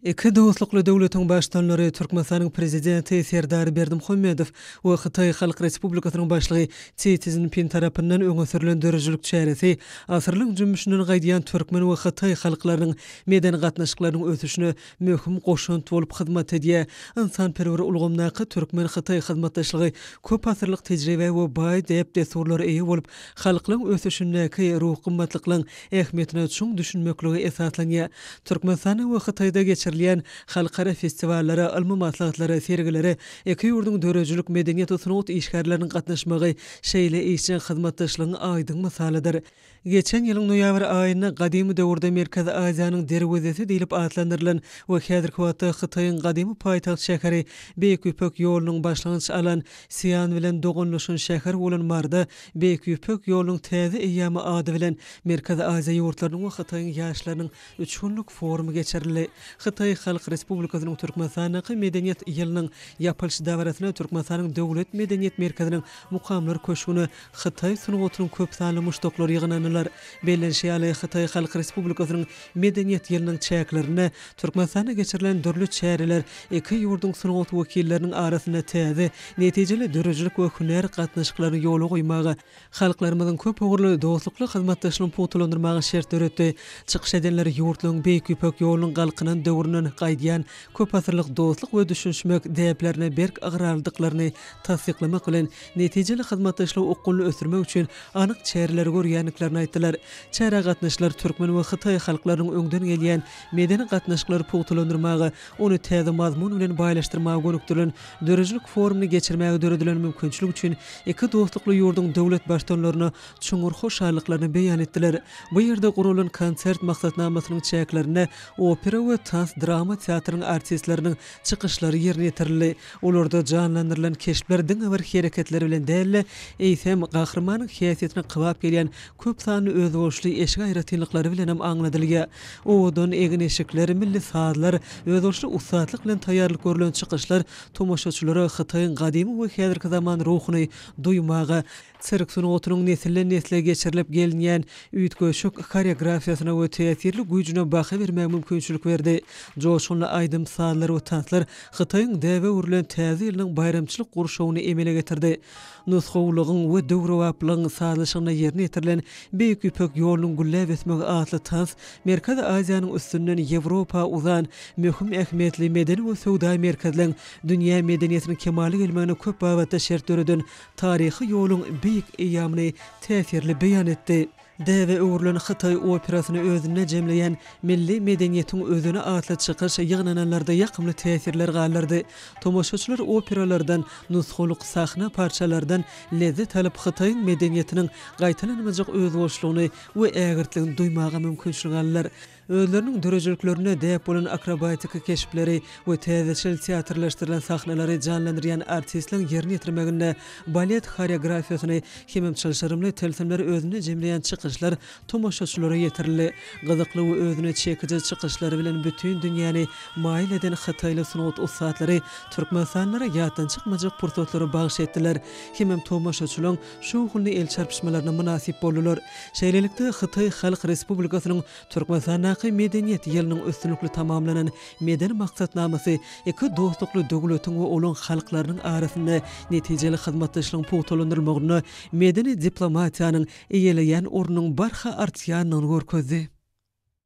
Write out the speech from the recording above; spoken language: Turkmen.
Iki dostlukly döwletiň Baştutanlary, Türkmenistanyň Prezidenti Serdar Berdimuhamedow we Hytaý Halk Respublikasynyň Başlygy Si Szinpin tarapyndan öňe sürlen döredijilik çäresi asyrlaryň jümmüşinden gaýdýan türkmen we hytaý halklarynyň medeni gatnaşyklarynyň ösüşine möhüm goşant bolup hyzmat edýär. Ynsanperwer ulgamdaky türkmen-hytaý hyzmatdaşlygy köp asyrlyk tejribä we baý däp-dessurlara eýe bolup, halklaryň ösüşindäki ruhy gymmatlyklaryň ähmiýetine çuň düşünmeklige esaslanýar. Türkmenistanda we Hytaýda geçirilýän halkara festiwallara, ylmy maslahatlara, sergilere iki ýurduň döredijilik, medeniýet we sungat işgärleriniň gatnaşmagy şeýle işjeň hyzmatdaşlygyň aýdyň mysalydyr. Geçen ýylyň noýabr aýynda gadymy döwürde Merkezi Aziýanyň derwezesi diýlip atlandyrylan we häzirki wagtda Hytaýyň gadymy paýtagt şäheri, Beýik Ýüpek ýolunyň başlangyç alan Sian bilen doganlaşan şäher bolan Marda Beýik Ýüpek ýolunyň täze eýýamy ady bilen Merkezi Aziýa ýurtlarynyň we Hytaýyň ýaşlarynyň üç günlük forumy geçirildi. Hytaý Halk Respublikasynyň Türkmenistandaky Medeniýet ýylynyň ýapylyş dabarasyna Türkmenistanyň Döwlet medeniýet merkeziniň Mukamlar köşgüne hytaý sungatynyň köp sanly muşdaklary ýygnandylar. Bellenişi ýaly, Hytaý Halk Respublikasynyň Medeniýet ýylynyň çäklerinde Türkmenistanda geçirilen dürli çäreler iki ýurduň sungat wekilleriniň arasynda täze, netijeli döredijilik we hünär gatnaşyklaryny ýola goýmaga, halklarymyzyň köp ugurly dostlukly hyzmatdaşlygyny pugtalandyrmaga şert döretdi. Çykyş edenler ýurtlaryň Beýik Ýüpek ýolunyň galkynan döwründen gaýdýan köpasyrlyk dostluk we düşünişmek däplerine berk ygrarlydyklaryny tassyklamak bilen, netijeli hyzmatdaşlygy okgunly ösdürmek üçin anyk çäreleri görýändiklerini aýtdylar. Çärä gatnaşyjylar türkmen we hytaý halklarynyň öňden gelýän medeni gatnaşyklary pugtalandyrmaga, ony täze mazmun bilen baýlaşdyrmaga gönükdirilen döredijilik forumyny geçirmäge döredilen mümkinçilik üçin iki dostlukly ýurduň döwlet baştutanlaryna çuňňur hoşallyklaryny beýan etdiler. Bu ýerde guralan konsert maksatnamasynyň çäklerinde opera we tans-drama teatrynyň artistleriniň çykyşlary ýerine ýetirildi. Olarda janlandyrylan keşpler diňe bir hereketleri bilen däl-de, eýsem, gahrymanyň häsiýetine kybap gelýän köp sanly özboluşly eşik aýratynlyklary bilenem aňladylýar. Owadan egin-eşikler, milli sazlar, özboluşly ussatlyk bilen taýýarlyk görlen çykyşlar tomaşaçylara Hytaýyň gadymy we häzirki zaman ruhuny duýmaga, Sirk sungatynyň nesilden-nesle geçirilip gelinýän üýtgeşik horeografiýasyna we täsirli güýjüne baha bermäge mümkinçilik berdi. Joşgunly aýdym-sazlar we tanslar Hytaýyň däbe öwrülen Täze ýylynyň baýramçylyk gurşawyny emele getirdi. Nusgawylygyň we döwrebaplygyň sazlaşygynda ýerine ýetirilen Beýik Ýüpek ýolunyň gülläp ösmegi atly tans Merkezi Aziýanyň üstünden Ýewropa uzan möhüm ähmiýetli medeni we söwda merkezleň dünýä medeniýetiniň kemala gelmegine köp babatda şert döreden taryhy ýoluň beýik eýýamyny täsirli beýan etdi. Däbe öwrülen hytaý operasyny özünde jemleýän Milli medeniýetiň özeni atly çykyş ýygnananlarda ýakymly täsirler galdyrdy. Tomaşaçylar operalardan, nusgalyk sahna parçalardan lezzet alyp, Hytaýyň medeniýetiniň gaýtalanmajak özboluşlygyny we ägirtligini duýmaga mümkinçilik aldylar. Özleriniň döredijiliklerinde däp bolan akrobatiki keşpleri we täzeçil teatrlaşdyrylan sahnalary janlandyrýan artistleň ýerine ýetirmeginde balet horeografiýasyny hemem çylşyrymly tilsimleri özünde jemleýän çykyşlar tomaşaçylara ýetirildi. Gyzykly we özüne çekiji çykyşlary bilen bütin dünýäni maýyl eden hytaýly sungat ussatlary türkmenistanlylara ýatdan çykmajak pursatlary bagyş etdiler hemem tomaşaçylaň şowhunly el çarpyşmalaryna mynasyp boldular. Şeýlelikde, Hytaý Halk Respublikasynyň Türkmenistandaky Medeniýet ýylynyň üstünlikli tamamlanan Medeni maksatnamasy iki dostlukly döwletiň we olaň halklarynyň arasynda netijeli hyzmatdaşlygyň pugtalandyrylmagynda medeni diplomatiýanyň eýeleýän ornunyň barha artýandygyny görkezdi.